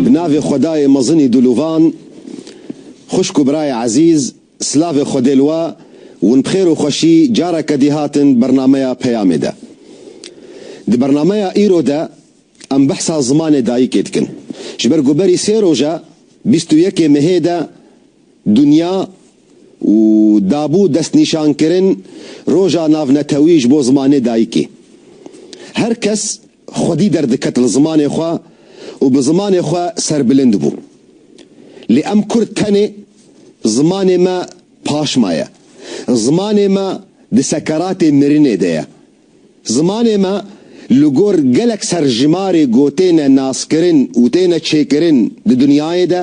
Bi navê xwedayê mezinî dûlûvan, xwişk û birayê ezîz, silavê xwedê li we, hûn bi xêr û xweşî careke dî hatin bernameya Peyamê de. Di bernameya îro de em behsa zimanê dayikê dikin. Ji ber ku berî sê roj e, bîst û yekê Mehê de Dinya û dabû destnîşankirin Roja Navnetewî ji bo Zimanê Dayikê. Her kes xwedî derdiket li zimanê xwe û bi zimanê xwe serbilind bû. Lê em Kurd tenê zimanê me paşma ye. Zimanê me di sekeratê mirinê de ye. Zimanê me li gor gelek serjimarê ku têne naskirin û têne çêkirin di dinyayê de,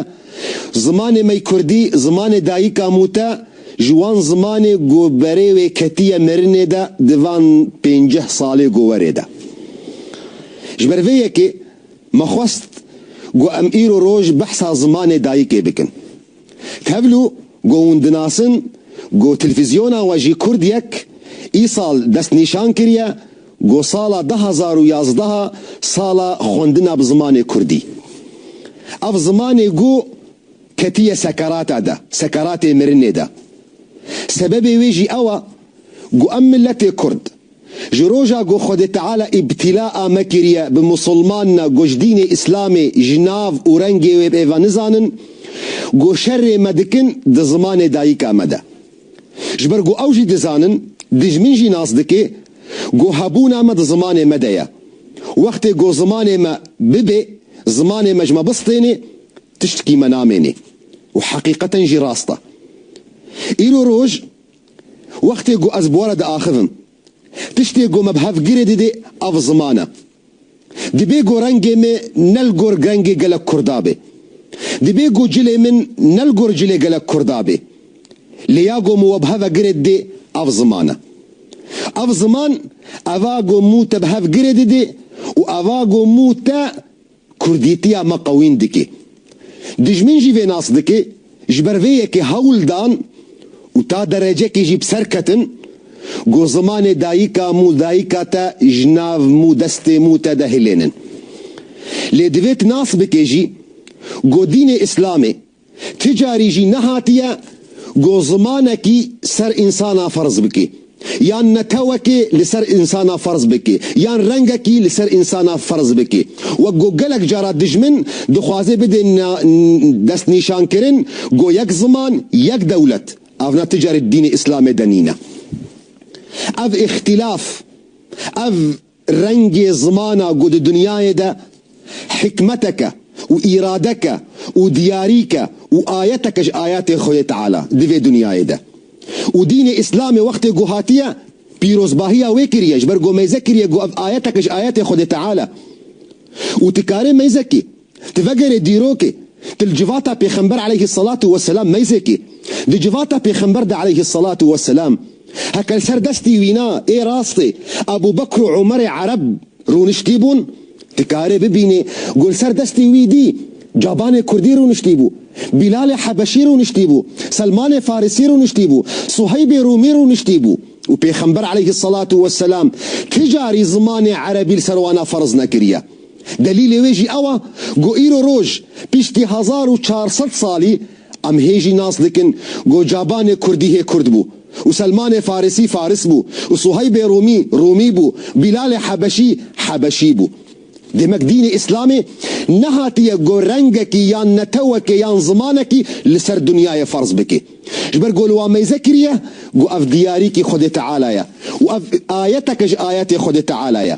zimanê me kurdî, zimanê dayika mû te ji wan zimanê ku berê wê ketiye mirinê de di van pênceh salê ku werê de. Ji ber vê yekê me xwest ku em îro roj behsa zimanê dayikê bikin. Tevlû got hûn dinasin ku televîzyona we jî Kurd Yek î sal destnîşan kiriye ku sala du hezar û yazdeh sala xwendina bi zimanê Kurdî. Ev zimanê ku ketiye sekerata de, sekeratê mirinê de. Sebebê wê jî ew e ku em miletê Kurd, Ji roja ku Xwedê Teala îbtîla ame kiriye bi Musulmanina ku ji dînê Îslamê ji nav û rengê wê bi êva nizanin, ku şerê me dikin di zimanê dayika me de. Ji ber ku ew jî dizanin, dijmin jî nas dike ku hebûna me di zimanê me de ye. Wextê ku zimanê me bibe, zimanê me ji me bistêne, tiştekî me namêne. Û heqîqeten jî rast e. Îro roj Wextê ku ez bora diaxivim. Tiştê ku me bi hev girê didê ev ziman e. Dibê ku rengê me ne li gor rengê gelek Kurda bê. Dibê ku cilê min ne li gor cilê gelek Kurda bê. Lê ya ku min we bi hev girê didê ev ziman e. Ev ziman eva ku min te bi hev girê didê û eva ku min te Kurdîtiya me qewîn dike. Dijmin jî vê nas dike, ji ber vê yekê hewl dan û ta derecekê jî bi ser ketin ku zimanê dayika mû dayika te ji nav mû destê mû te de hilênin. Lê divê tu nas bike jî ku dînê îslamê Ti carî jî nehatiye ku zimanekî ser însana ferz bike, yan netewekê li ser însana ferz bike, yan rengekî li ser însana ferz bike. Wek ku gelek cara dijmin dixwaze bide destnîşankirin ku yek ziman, yek dewlet, ev na ti carî di dînê îslamê de nîne. Ev îxtîlaf, ev Rengê zimana ku di dinyayê de hikmeteke û îradeke û diyarîke û ayeteke ji ayetên Xwedê Teala di vê dinyayê de û dînê Îslamê wextê ku hatiye pîrozbahiya wê kiriye ji ber ku meyze kiriye ku ev ayeteke ji ayetên Xwedê Teala û tu karê meyzekî Di vegerê dîrokê, di li civata Pêxember aleyhî selatû weselam meyzekê, di civata Pêxember de aleyhî selatû weselam, heke li ser destî wîna ê rastê Ebû Bekr û Umerê Ereb rûniştî bûn, dikarê bibînê ku li ser destê wî dî Cabanê Kurdî rûniştî bû, Bîlalê Hebeşî rûniştî bû, Selmanê Farisî rûniştî bû, Suheybê Rûmî rûniştî bû û Pêxember aleyhî selatû weselam kijarî zimanê Erebî li ser wana ferz nekiriye. Delîlê wê jî ew a ku îro roj piştî hezar û çar sed salî em hê jî nas dikin ku cabanê kurdî hê kurd bû û selmanê farisî faris bû û suheybê rûmî rûmî bû û bîlalê hebeşî hebeşî bû. Demek dînê îslamê nehatiye ku rengekî yan netewekê yan zimanekî li ser dinyayê ferz bike. Ji ber ku li wan meyze kiriye ku ev diyarîkî xwedê teala ye û ev ayeteke ji ayetê xwedê teala ye.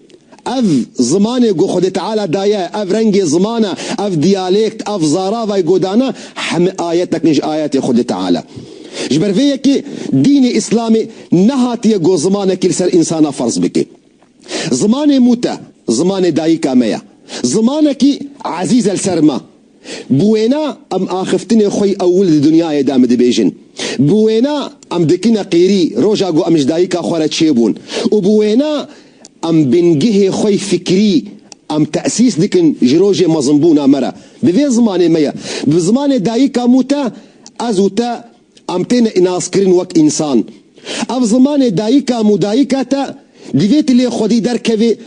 Ev zimanê ku Xwedê Teala daye, ev rengê zimana, ev diyalêkt, ev zaravayê godana heme ayetek in ji ayetê Xwedê Teala. Ji ber vê yekê dînê Îslamê nehatiye ku zimanekî li ser însanan ferz bike. Zimanê mûte, zimanê dayika me ye. Zimanekî ezîz e li ser me. Bi wêna em axiftinê xwe yî ewil di dinyayê de em dibêjin. Bi wêna em dikine qîrî roja ku em ji dayika xwe re çêbûn û bi wêna em bingehê xwe yî fikrî em tesîs dikin ji rojê mezinbûna me re. Bi vê zimanê me ye. Bi zimanê dayika mû te, ez û te Em têne înaskirin wek însan. Ev zimanê dayika mûdayika te divê tu lê xwedî derkevê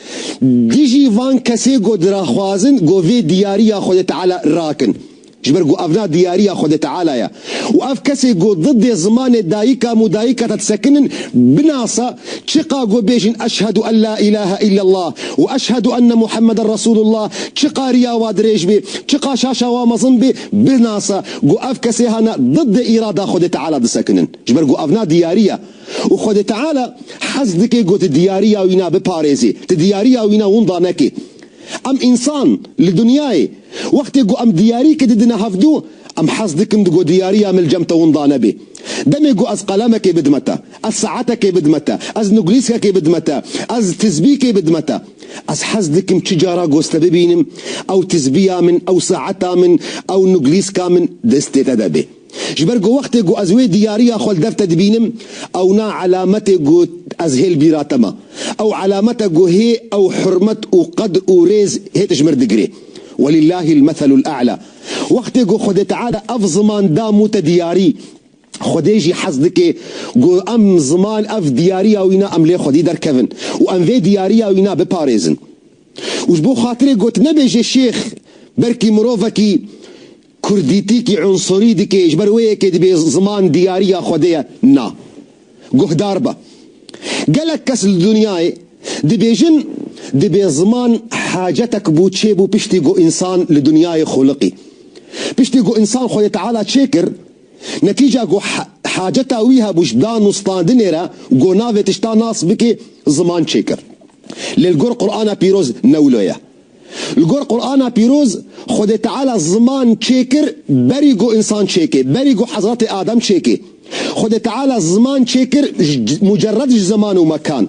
dijî van kesê ku diraxwazin ku vê diyariya Xwedê Teala rakin. Ji ber ku ev na diyariya Xwedê Teala ye. Û ev kesê ku didê zimanê dayika mûdayika te disekinin binasa çiqa ku bêjin eşhedû en la îlahe îllellah û eşhedû enne Muhammeden Resûlullah çiqa riya wa dirêj bê, çiqa şaşa wa mezin bê binasa. Ku ev kesê hane diddê îrada Xwedê Teala disekinin. Ji ber ku ev na diyarî ye û Xwedê Teala hez dike ku tu diyariya wî na biparêzî, tu diyariya wî na winda nekî. Em însan li dinyayê wextê ku em diyarîkê didine hevdû, em hez dikin ku diyariya min li cem te winda nebe. Demê ku ez qelemekê bidime te. Ez saetekê bidime te. Ez nuglîskekê bidime te. Ez tizbîkê bidime te. Ez hez dikim çi cara goz te bibînim, ew tizbiya min, ew saeta min, ew nuglîska min destê te de bê. Ji ber ku wextê ku ez wê diyariya xwe li dev te dibînim, ewna elametê ku ez hê li bîra te ma. Ew elamete ku hê ew hurmet û qedr û rêz hê tu ji min re digirê. Welîllahîl meselûl e'la. Wextê ku Xwedê Teala ev ziman da mû te diyarî, Xwedê jî hez dike ku em ziman ev diyariya wî ne em lê xwedî derkevin û em vê diyariya wî ne biparêzin. Û ji bo xatirê got nebe jê şêx belkî mirovekî kurdîtîkî unsurî dike ji ber wê yekê dibê ziman diyariya xwedê ye. Na. Guhdar be. Gelek kes li dinyayê dibêjin dibê ziman hacetek bû çêbû piştî ku însan li dinyayê xuliqî. Piştî ku însan xwedê teala çêkir Netîca ku haceta wî hebû ji danûstandinê re ku navê tişta nas bike ziman çêkir. Lê li gor Qur'ana Pîroz ne wilo ye. Li gor Qur'ana Pîroz Xwedê Teala ziman çêkir berî ku însan çêke, berî ku hezretê Adem çêke. Xwedê Teala ziman çêkir mucerred ji zeman û mekan.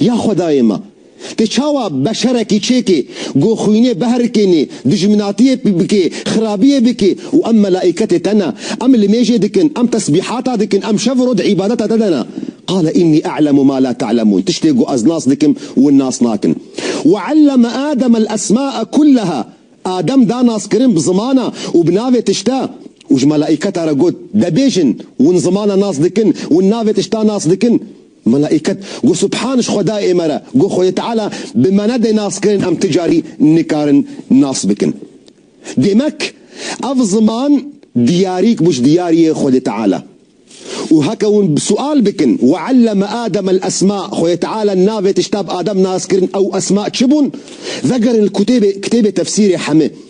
Ya xwedayê me! Te çawa beşerekî çêkê, goxwînê behrikênê, dijminatiyê bikê, xirabiyê bikê û em melaîketê te ne, em limêjê dikin, em tesbîhata dikin, em şev û roj îbadeta te de ne. Qale înnî e'lemu ma la te'lemûn, tiştê ku ez nas dikim wan nas nakin. Wa elleme Ademel esma'e kulleha, Adem da naskirin bi zimana û bi navê tişta û ji melaîketa re got, De bêjin, wan zimana nas dikin, wan navê tişta nas dikin. Melaîket got, Subhan ji Xwedayê me re, got Xwedê Teala bi me nedê naskirin em ti carî nikarin nas bikin. Demek ev ziman diyarîk bû ji diyariyê Xwedê Teala. Û heke hûn sual bikin, Wa elleme Adem el esma, Xwedê Teala navê tişta bi Adem naskirin ew esma çi bûn? Vegerin li kutêbê, kitêbê tefsîrê heme.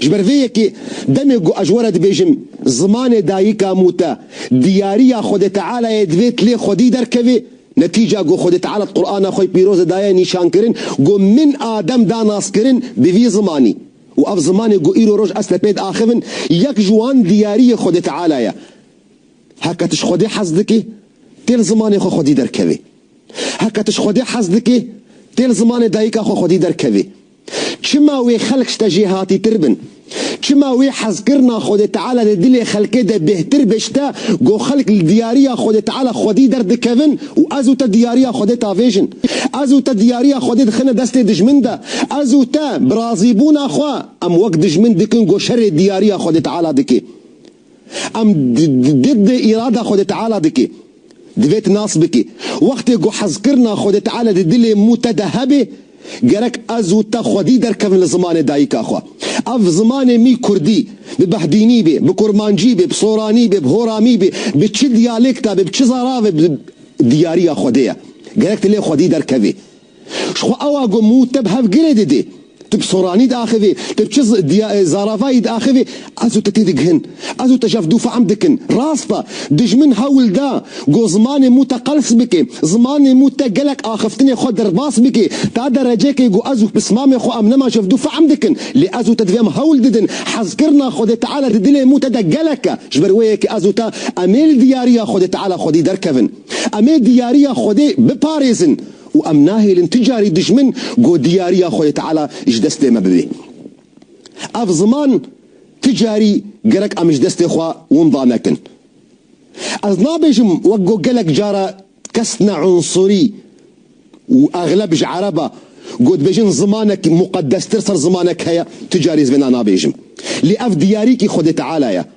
Ji ber vê yekê demê ku ez were dibêjim zimanê dayika mû te diyariya Xwedê Tealayê divê ti lê xwedî derkevê, netîca ku Xwedê Teala di Qurana xwe pîroz de daye nîşankirin ku min Adem da naskirin bi vî zimanî û ev zimanê ku îro roj ez te pê diaxivin yek ji wan diyariyê Xwedê Teala ye. Heke tu ji Xwedê hez dikî tê li zimanê xwe xwedî derkevê. Heke tu ji Xwedê hez dikî tê li zimanê dayika xwe xwedî derkevê. Çima wê xelk ji te jê hatîtir bin? Çima wê hezkirina Xwedê Teala di dilê xelkê de bêhtir be ji te ku xelk li diyariya Xwedê Teala xwedî derdikevin û ez û te diyariya Xwedê tavêjin? Ez û te diyariya Xwedê dixine destê dijmin de. Ez û te bi razîbûna xwe em wek dijmin dikin ku şerê diyariya Xwedê Teala dike. Em didd îrada Xwedê Teala dike. Divê tu nas bikî. Wextê ku hezkirina Xwedê Teala di dilê mû te de hebe, gerek ez û te xwedî derkevin li zimanê dayika xwe. Ev zimanê mî kurdî, bi behdînî bê, bi kurmancî bê, bi soranî bê, bi horamî bê, bi çi diyalêkta bê, bi çi zaravê bê, diyariya Xwedê ye. Gerek tu lê xwedî derkevî. Ji xwe awa got, Mû te bi hevgirê didê. Tu bi soranî diaxivî, tu bi çi zaravayî diaxivî, ez û te têdigihin. Ez û te ji hev dû fehm dikin. Rast e, dijmin hewl da got zimanê mû te qels bike, zimanê mû te gelek axiftinê xwe derbas bike. Ta derecekê got ez û pismamê xwe em nema ji hev dû fehm dikin. Lê ez û te divê em hewl didin. Hezkirina Xwedê Teala di dilê mû te de gelek e. Ji ber wê ye ke ez û te em ê li diyariya Xwedê Teala xwedî derkevin. Em ê diyariya Xwedê biparêzin. û em nahêlin tu carî dijmin ku diyariya Xwedê Teala ji destê me bibe. Ev ziman tu carî gerek em ji destê xwe winda nekin. Ez nabêjim wek ku gelek cara kes ne unsurî û exleb ji ereb e ku dibêjin zimanek muqedestir ser zimanek heye, tu carî ez vêna nabêjim. Lê ev diyarîkî Xwedê Teala ye.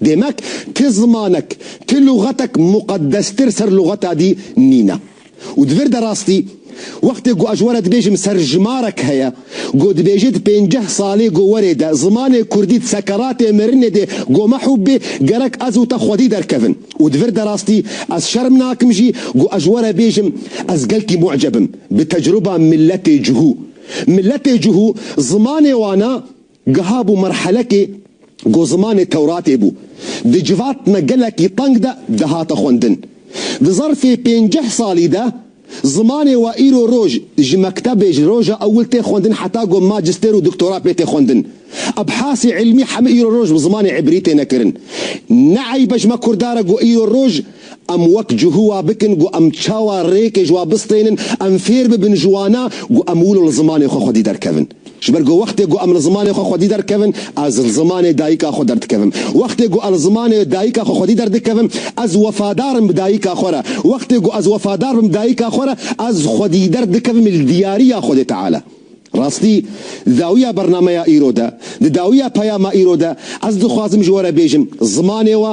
Demek ti zimanek, ti luxatek muqedestir ser luxata dî nîne. Û di vir de rastî, wextê ku ez were dibêjim serjimarek heye, ku dibêje di pênceh salê ku were de zimanê kurdî di sekeratê mirinê de ku mehûb bê, gerek ez û te xwedî derkevin. Û di vir de rastî, ez şerm nakim jî ku ez were bêjim ez gelkî mu'ceb im bi tecruba miletê cihû. Miletê cihû zimanê wan e. Geha bû merhelekê ku zimanê Tewratê bû di civatna gelekî teng de dihate xwendin. Di zerfê pênceh salî de zimanê we îro roj ji mektebê ji roja ewil tê xwendin heta ku majistêr û doktora pê tê xwendin. Ebhasî îlmî hemû îro roj bi zimanê îbrî têne kirin. Ne eybe ji me Kurdaran ku îro roj em wek cihû wa bikin ku em çawa rêkê ji wa bistênin, em fêr bibin ji wana ku em wilo li zimanê xwe xwedî derkevin. Ji ber ku wextê ku em li zimanê xwe xwedî derkevin, ez li zimanê dayika xwe derdikevim. Wextê ku ez li zimanê dayika xwe xwedî derdikevim, ez wefadar im bi dayika xwe re. Wextê ku ez wefadar bim dayika xwe re, ez xwedî derdikevim li diyariya Xwedê Teala. Rastî, dawiya bernameya îro de, di dawiya peyama îro de, ez dixwazim ji we re bêjim, zimanê we,